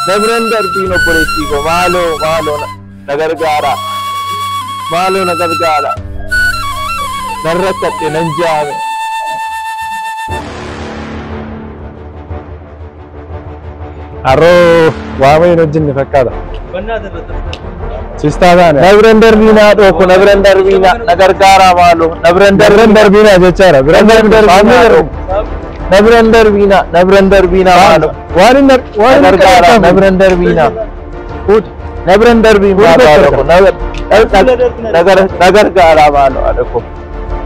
Dabran darbiin obboleettii koo maaloo maaloo na- na gargaara. Maaloo na gargaara. Nan rakkadhe nan jaame. Harroo waa mayin hojjenne fakkaata. Sistaa taane. Na biran darbiinaa dhooko na biran darbiinaa na gargaaraa maaloo na biran Na biran darbiinaa jechaadha. Biran darbiinaa dhooko. Na biran darbiinaa na biran darbiinaa maaloo. Waan hin waan hin Gargaara na biran darbiinaa. Na biran darbiinaa maaloo ko na na gargaaraa maaloo adhoko.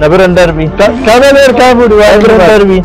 Na biran darbiin. Kamel erkaa fuudhi waan biran darbiin.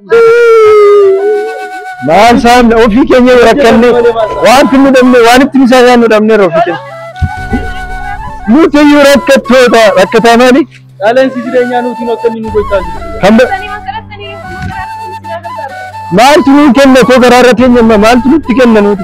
Maal isaan ofii keenya yoo rakkanne wanti nu dhabne waan ittiin isaan yaadnu dhabneerra ofii keenya. Nuti iyyuu rakkattoota rakkataa maali? Qaala'insi jireenyaa nuti akka inni nu gochaa jiru. Kan ba- maaltu nuun kenna koo garaa irra teenya amma maaltu nutti kenna nuti?